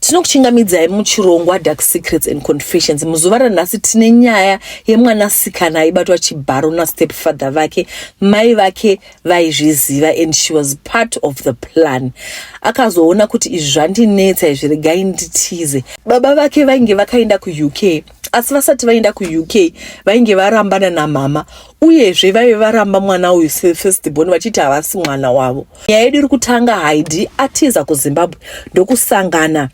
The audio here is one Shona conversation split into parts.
tinokuchingamidzai muchirongwa dark secrets and confessions muzuva ranhasi tine nyaya yemwanasikana aibatwa chibharo nastep father vake mai vake vaizviziva and she was part of the plan akazoona kuti izvi zvandinetsa izvi regai nditize baba vake vainge vakaenda kuuk asi vasati vaenda kuuk vainge varambana namama uyezve vaive varamba mwana uyu sefirst born vachiti havasi mwana wavo nyaya yedu iri kutanga haidi atiza kuzimbabwe ndokusangana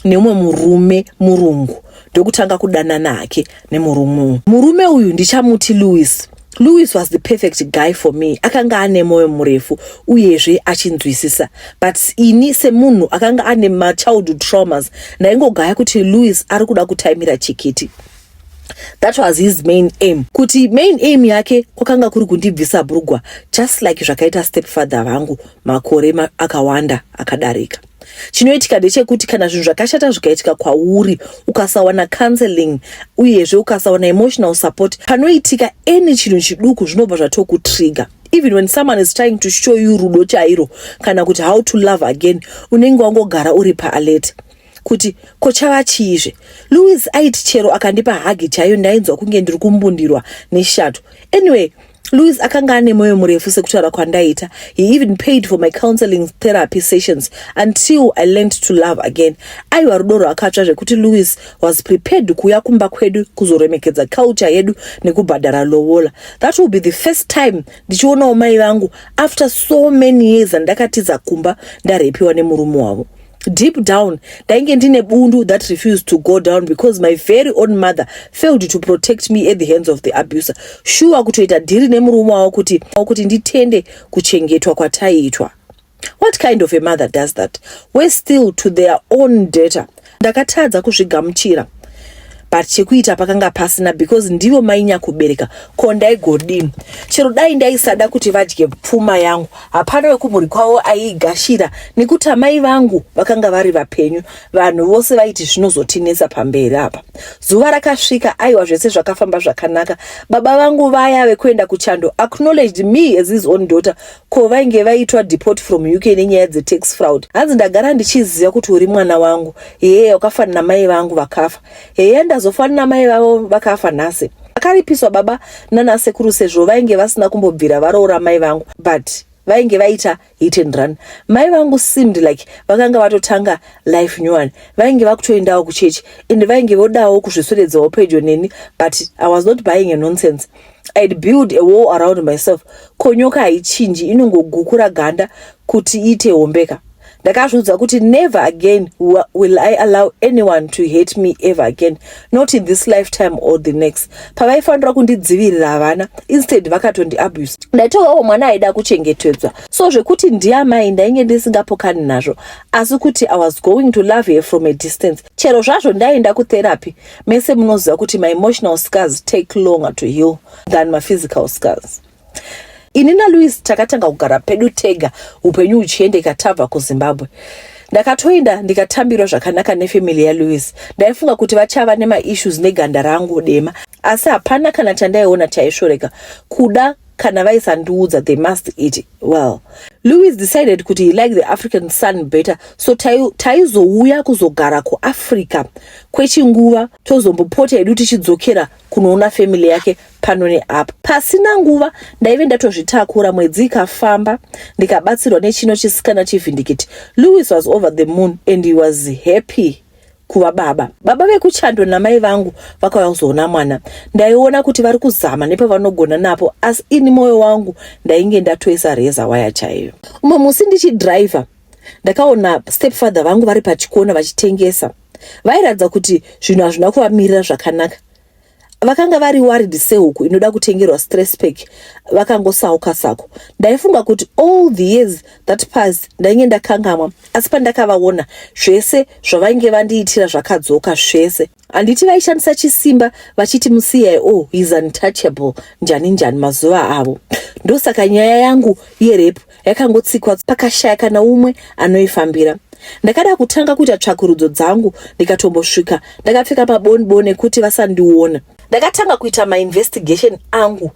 neumwe murume murungu ndokutanga kudanana hake nemurume uyu murume uyu ndichamuti louis Louis was the perfect guy for me akanga ane moyo murefu uyezve achinzwisisa but ini semunhu akanga ane machildhood traumas ndaingogaya kuti Louis ari kuda kutaimira chikiti that was his main aim kuti main aim yake kwakanga kuri kundibvisa brugwa just like zvakaita stepfather vangu makore ma akawanda akadarika chinoitika ndechekuti kana zvinhu zvakashata zvikaitika kwauri ukasawana counseling uyezve ukasawana emotional support panoitika any chinhu chiduku zvinobva zvatokutrigger even when someone is trying to show you rudo chairo kana kuti how to love again unenge wangogara uri paalert kuti ko chava chiizve louis aiti chero akandipa hagi chaiyo ndainzwa kunge ndiri kumbundirwa neshato anyway Louis akanga ane moyo murefu sekutaura kwandaita. He even paid for my counseling therapy sessions until I learned to love again. Aiwa rudo rwakatsva zvekuti Louis was prepared kuuya kumba kwedu kuzoremekedza culture yedu nekubhadhara lowola. That will be the first time ndichionawo mai vangu after so many years andakatiza kumba ndarepiwa nemurume wavo. deep down ndainge ndine bundu that refused to go down because my very own mother failed to protect me at the hands of the abuser shuwa kutoita dhiri nemurume wavo kuti kuti nditende kuchengetwa kwataiitwa what kind of a mother does that we still to their own data ndakatadza kuzvigamuchira but chekuita pakanga pasina because ndivo mainyakubereka ko ndaigodini chero dai ndaisada kuti vadye pfuma yangu hapana wekumhuri kwavo aiigashira nekuti amai vangu vakanga vari vapenyu vanhu vose vaiti zvinozotinetsa pamberi apa zuva rakasvika aiwa zvese zvakafamba zvakanaka baba vangu vaya vekuenda kuchando acknowledged me as his own daughter Ko vainge vaitwa deport from UK nenyaya dze tax fraud. Hanzi ndagara ndichiziva kuti uri mwana wangu. Heya wakafanana mai vangu vakafa. Heya ndazofanana mai vavo vakafa nhasi. Vakaripiswa baba nana sekuru sezvo vainge vasina kumbobvira varoora mai vangu but vainge vaita hit and run. Mai vangu seemed like vakanga vatotanga life new one. Vainge vakutoendawo kuchechi and vainge vodawo kuzvisweredzawo pedyo neni but I was not buying a nonsense. I'd build a wall around myself ko nyoka haichinji inongogukura ganda kuti iite hombeka ndakazviudza kuti never again will i allow anyone to hate me ever again not in this lifetime or the next pavaifanira kundidzivirira havana instead vakatondiabuse ndaitovawo mwana aida kuchengetedzwa so zvekuti ndiamai ndainge ndisingapokani nazvo asi kuti i was going to love her from a distance chero zvazvo ndaienda kutherapy Mese munoziva kuti maemotional scars take longer to heal than maphysical scars. Ini naLouis takatanga kugara pedu tega upenyu uchiendeka tabva kuZimbabwe. Ndakatoenda ndikatambirwa zvakanaka nefamily yaLouis. Ndaifunga kuti vachava nemaissues neganda rangu dema, asi hapana kana chandaiona chaisvoreka kuda kana vaisandiudza they must eat Well, Louis decided kuti he liked the African sun better so taizouya tai kuzogara kuAfrica kwechinguva tozombopota hedu tichidzokera kunoona family yake pano neapo. Pasina nguva ndaive ndatozvitakura, mwedzi ikafamba ndikabatsirwa nechino chisikana chivhindikiti. Louis was over the moon and he was happy. kuva baba. Baba vekuchando namai vangu vakauya kuzoona mwana. Ndaiona kuti vari kuzama nepavanogona napo asi ini moyo wangu ndainge ndatoisa reza waya chaiyo. Umwe musi ndichidriver ndakaona stepfather vangu vari pachikona vachitengesa. Vairatidza kuti zvinhu hazvina kuvamirira zvakanaka. vakanga vari worried sehuku inoda kutengerwa stress pack vakangosauka sako ndaifunga kuti all the years that passed ndainge ndakangamwa asi pandakavaona zvese zvavainge vandiitira zvakadzoka zvese handiti vaishandisa chisimba vachiti musiyai o oh, is untouchable njani njani mazuva avo ndosaka nyaya yangu yerepu yakangotsikwa pakashaya kana umwe anoifambira ndakada kutanga kuita tsvakurudzo dzangu ndikatombosvika ndakapfeka paboniboni ekuti vasandiona ndakatanga kuita mainvestigation angu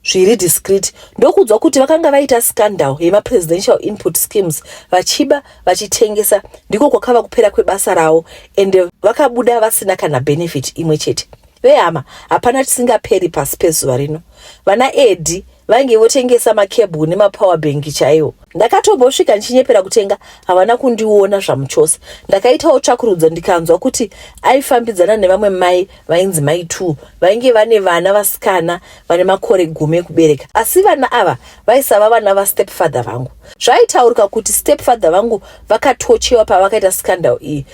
zviri discreet ndokuudzwa kuti vakanga vaita scandal yemapresidential input schemes vachiba vachitengesa ndiko kwakava kupera kwebasa ravo and vakabuda vasina kana benefit imwe chete Vehama, hapana chisingaperi pasi pezuva rino. Vana Edi vainge votengesa makebhu nemapower bank chaiwo. Ndakatombosvika ndichinyepera kutenga, havana kundiona zvamuchose. Ndakaitawo tsvakurudzo ndikanzwa kuti aifambidzana nevamwe mai vainzi mai two vainge vane vana vasikana vane makore gumi ekubereka. Asi vana ava vaisava vana vastepfather vangu. Zvaitaurika kuti stepfather vangu vakatochewa pavakaita scandal iyi.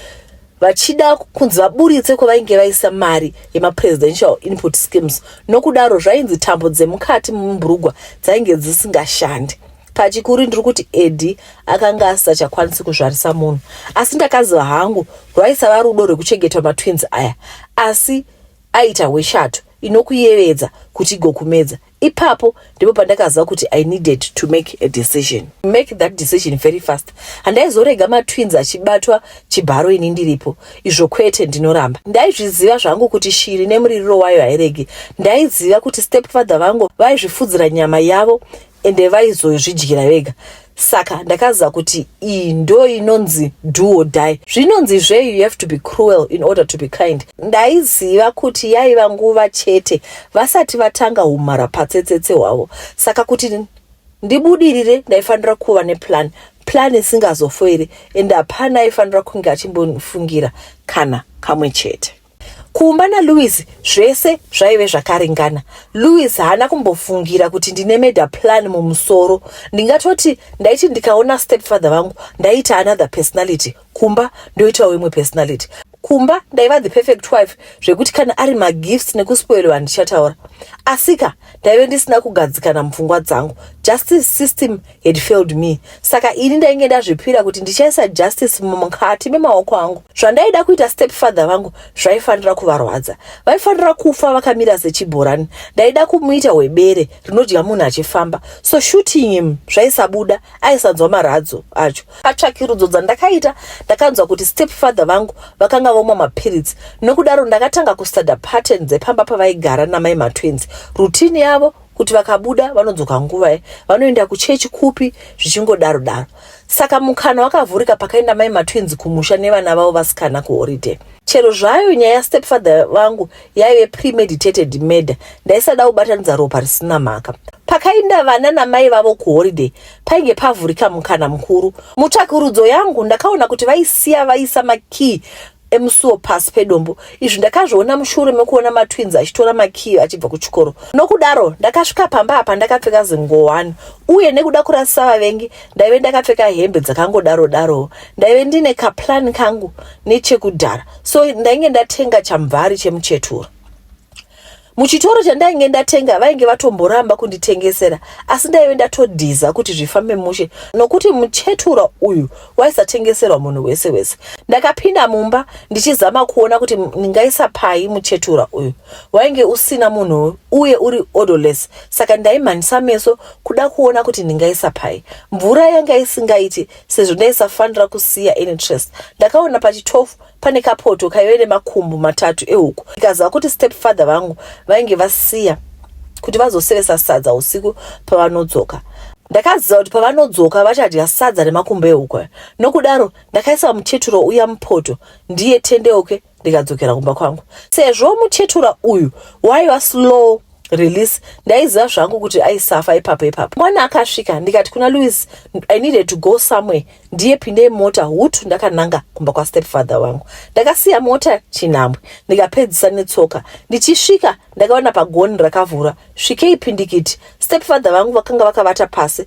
vachida kunzi vaburitse kwavainge vaisa mari yemapresidential input schemes nokudaro zvainzi tambo dzemukati mumburugwa dzainge dzisingashandi pachikuru ndiri kuti edi akanga asisachakwanisi kuzvarisa munhu asi ndakaziva hangu rwaisava rudo rwekuchengetwa matwins aya asi aita hweshato inokuyevedza kuti igokumedza ipapo ndipo pandakaziva kuti i needed to make a decision make that decision very fast handaizorega matwins achibatwa chibharo ini ndiripo izvo kwete ndinoramba ndaizviziva zvangu kuti shiri nemuririro wayo hairegi ndaiziva kuti stepfather vangu vaizvifudzira nyama yavo ende vaizozvidyira vega saka ndakaziva kuti iyi ndo inonzi do or die zvinonzi zve you have to be cruel in order to be kind ndaiziva kuti yaiva nguva chete vasati vatanga humhara patsetsetse hwavo saka kuti ndibudirire ndaifanira kuva neplan plan isingazofoiri ende hapana aifanira kunge achimbonifungira kana kamwe chete Kumba naLouis zvese zvaive zvakaringana. Louis haana kumbofungira kuti ndine meda plan mumusoro. Ndingatoti ndaiti ndikaona stepfather vangu ndaita another personality kumba ndoitawo imwe personality. Kumba ndaiva the perfect wife zvekuti kana ari magifts nekuspoilwa handichataura. Asika ndaive ndisina kugadzikana mupfungwa dzangu justice system had failed me saka ini ndainge ndazvipira kuti ndichaisa justice mukati memaoko angu zvandaida kuita step father vangu zvaifanira kuvarwadza vaifanira kufa vakamira sechibhorani ndaida kumuita webere rinodya munhu achifamba so shooting him zvaisabuda aisanzwa maradzo acho patsvakirudzo dzandakaita ndakanzwa kuti step father vangu vakanga vomwa mapiritsi nokudaro ndakatanga kustuda pattern dzepamba pavaigara namai matwins rutini yavo kuti vakabuda vanodzoka nguva ye vanoenda kuchechi kupi zvichingodaro daro saka mukana wakavhurika pakaenda mai matwins kumusha nevana vavo vasikana kuhoride chero zvayo nyaya yastepfather vangu yaive premeditated murder ndaisada kubatanidza ropa risina mhaka pakainda vana namai vavo kuholiday painge pavhurika mukana mukuru mutsvakurudzo yangu ndakaona kuti vaisiya vaisa makey emusuwo pasi pedombo izvi ndakazviona mushure mekuona matwins achitora makiyo achibva kuchikoro nokudaro ndakasvika pamba apa ndakapfeka zingowani uye nekuda kurasisa vavengi ndaive ndakapfeka hembe dzakangodaro daro ndaive ndine kaplan kangu nechekudhara so ndainge ndatenga chamvari chemuchetura muchitoro chandainge ndatenga vainge vatomboramba kunditengesera asi ndaive ndatodhiza kuti zvifambe mushe nokuti muchetura uyu waisatengeserwa munhu wese wese ndakapinda mumba ndichizama kuona kuti ndingaisa pai muchetura uyu wainge usina munhu uye uri odoles saka ndaimhanyisa meso kuda kuona kuti ndingaisa pai mvura yanga isingaiti sezvo ndaisafanira kusiya interest ndakaona pachi 12 pane kapoto kaive nemakumbu matatu ehuku ikaziva kuti step father vangu vainge vasiya kuti vazosevesa sadza usiku pavanodzoka ndakaziva kuti pavanodzoka vachadya sadza remakumbo ehuku nokudaro ndakaisa muteturo uya mupoto ndiye tendeuke ndikadzokera kumba kwangu sezvo muchetura uyu waiva slow release ndaiziva zvangu kuti aisafa ipapo ipapo mwana akasvika ndikati kuna louis i needed to go somewhere ndiye pindei mota hutu ndakananga kumba kwastepfather wangu ndakasiya mota chinhambwe ndikapedzisa netsoka ndichisvika ndakaona pagoni rakavhura svikei pindikiti stepfather vangu vakanga vakavata pasi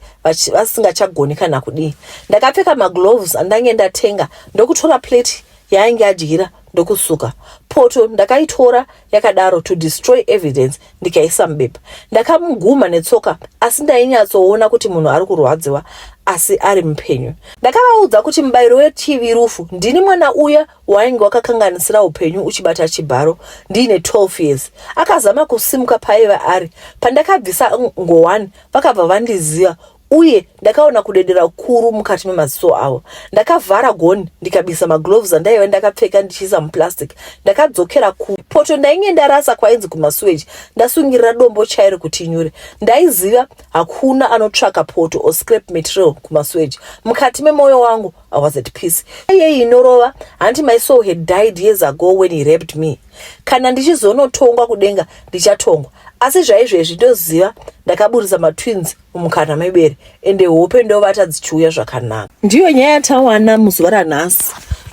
vasingachagoni kana kudii ndakapfeka magloves andange ndatenga ndokutora plate yaainge adyira ndokusuka poto ndakaitora yakadaro to destroy evidence ndikaisa mubepa ndakamuguma netsoka asi ndainyatsoona kuti munhu ari kurwadziwa asi ari mupenyu ndakavaudza kuti mubayiro wetv rufu ndini mwana uya wainge wakakanganisira upenyu uchibata chibharo ndiine 12 years akazama kusimuka paiva ari pandakabvisa ngowani vakabva vandiziva uye ndakaona kudedera kukuru mukati memaziso avo. Ndakavhara gonhi ndikabisa magloves andaiva ndakapfeka ndichiisa muplastic. Ndakadzokera kupoto ndainge ndarasa kwainzi kumasuweji ndasungirira dombo chairo kuti nyure. Ndaiziva hakuna anotsvaka poto or scrap material kumasuweji. Mukati memoyo wangu I was at peace. Iyeyi inorova hanti my soul had died years ago when he raped me. Kana ndichizonotongwa kudenga ndichatongwa asi zvaizvezvi ndoziva ndakaburitsa matwins mukana mebere ende hope ndovata dzichiuya zvakanaka ndiyo nyaya yatawana muzuva ranhasi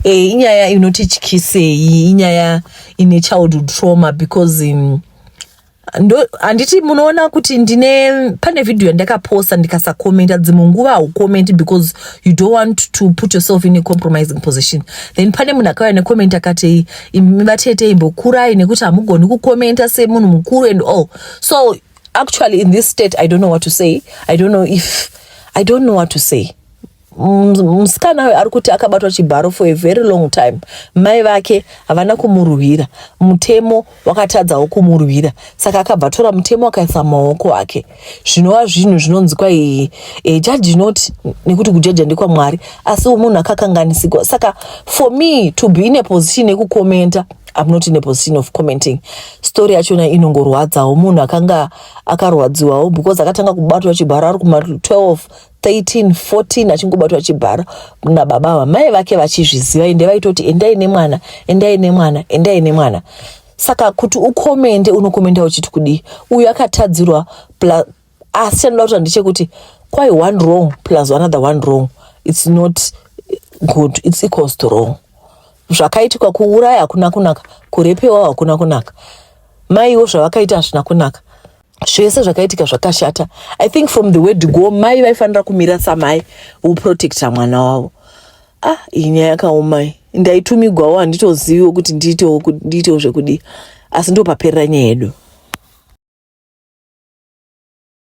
e, inyaya inotityisei inyaya ine childhood trauma because um, handiti munoona kuti ndine pane vhidhiyo yandakaposta ndikasakomenta dzimwe nguva haukomenti because you don't want to put yourself in a compromising position then pane munhu akauya nekomenti akati vatete imbokurai nekuti hamugoni kukomenta semunhu mukuru and all so actually in this state i don't know what to say i don't know if i don't know what to say musikana uyo ari kuti akabatwa chibharo for a very long time mai vake havana kumurwira mutemo wakatadzawo kumurwira saka akabva tora mutemo akaisa maoko ake zvinova zvinhu zvinonzi kwai e, jaji not nekuti kujaja ndekwamwari asi munhu akakanganisigwa saka for me to be in a position yekukomenta I'm not in a position of commenting story yachona inongorwadzawo munhu akanga akarwadziwawo because akatanga kubatwa chibharo ari kuma 12 13 14 achingobatwa chibharo nababa ava mai vake vachizviziva ende vaitoti endai nemwana endai nemwana endai nemwana saka kuti ukomende unokomenda uchiti kudii uyu akatadzirwa asi chandinoda kuti ndechekuti kwai one wrong plus another one wrong it's not good it's equals to wrong zvakaitika kuuraya hakuna kunaka kurepewa hakuna kunaka maiwo zvavakaita hazvina kunaka zvese zvakaitika zvakashata i think from the word go mai vaifanira kumira samai woprotecta mwana wavo ah iyi nyaya yakaomai ndaitumigwawo handitoziviwo kuti ndiitewo ndiitewo zvekudii asi ndopaperera nyaya yedu